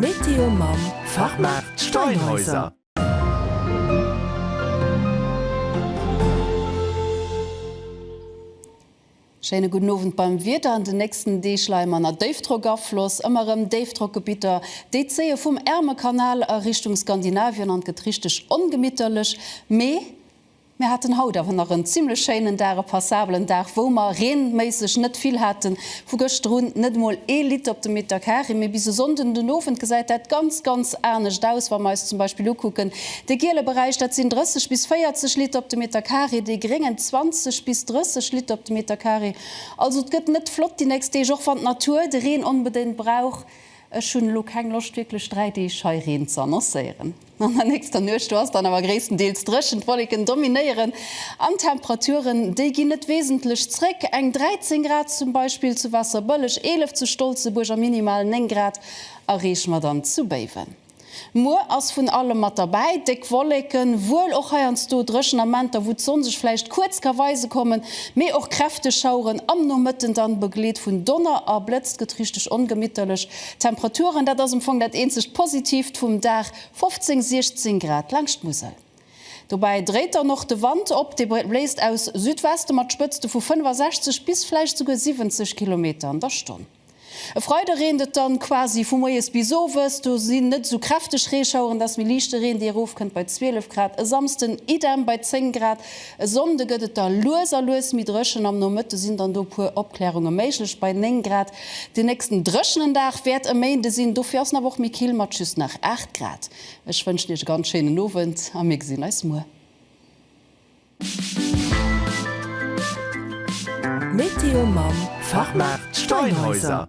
Météo mam Fachmaart Steinhäuser. Schéine gudden Owend beim Wieder. An den nächsten Deeg leie mer ënner Déifdrockafloss. Ëmmer erëm Déifdrockgebitter, déi zéie vum Ärmelkanal a Richtung Skandinavien an et gëtt richteg ongemitterlech. Mee. Mir haten haut awer nach en zimlech schéinen Dag, e passabelen Dag, wou mer reenméisseg net vill haten. Vu gëschter un net emol ee Litt op de Meter Kari, mee bis e Sonnden den Owend gesäit dat ganz, ganz anescht aus. Wa mer eis zum Beispill ukucken, dee giele Beräich, dat sinn 30 bis 40 Litt op de Meter Kari, dee gréngen 20 bis 30 Litt op de Meter Kari. Also et gëtt net flott déi nächst Deeg, och wann d'Natur de Reen onbedéngt brauch. Ech hunn elo keng Loscht wierklech dräi Deeg hei Reen ze annoncéieren. An der nächster Nuecht do ass dann awer gréisstendeels dréchen, d'Wolleken dominéieren an d'Temperaturen, déi ginn net wesentlech zréck, eng 13 Grad zum Beispill zu Waasserbëlleg, 11 zu Stolzebuerg a minimal 9 Grad erreeche mer dann zu Béiwen. Muer ass vun allem mat derbäi, déck Wolleken, wuel och heiansdo dréchen Amenter, wou d'Sonn sech vläicht kuerz ka weise kommen, mee och kräfteg Schaueren am Nomëtten, dann begleet vun Donner a Blëtz. Gëtt richteg ongemitterlech. D'Temperaturen, dat ass am Fong dat eenzegt Positiivt vum Dag, 15, 16 Grad laangscht d'Musel. Dobäi dréit dann och de Wand op, dee bléist aus Südweste mat Spëtzte vu 65 bis vläicht souguer 70 Kilometer an der Stonn. E Freide reent et dann quasi vu moies bis owes, do sinn net esou kräfteg Reeschaueren, dat ass méi liichte Reen, dee erofkënnt bei 12 Grad. E Samsden idem bei 10 Grad. E Sonnde gëtt et da lues a lues méi dréchen. Am Nomëtte sinn dann do puer Opklärunge méiglech bei 9 Grad. Den nächsten dréchenen Dag wäert e Méinde sinn, dofir ass en awer och méi kill mat just nach 8 Grad. Ech wënschen Iech e ganz schéinen Owend a mir gesinn eis muer. Météo mam Fachmaart Steinhäuser.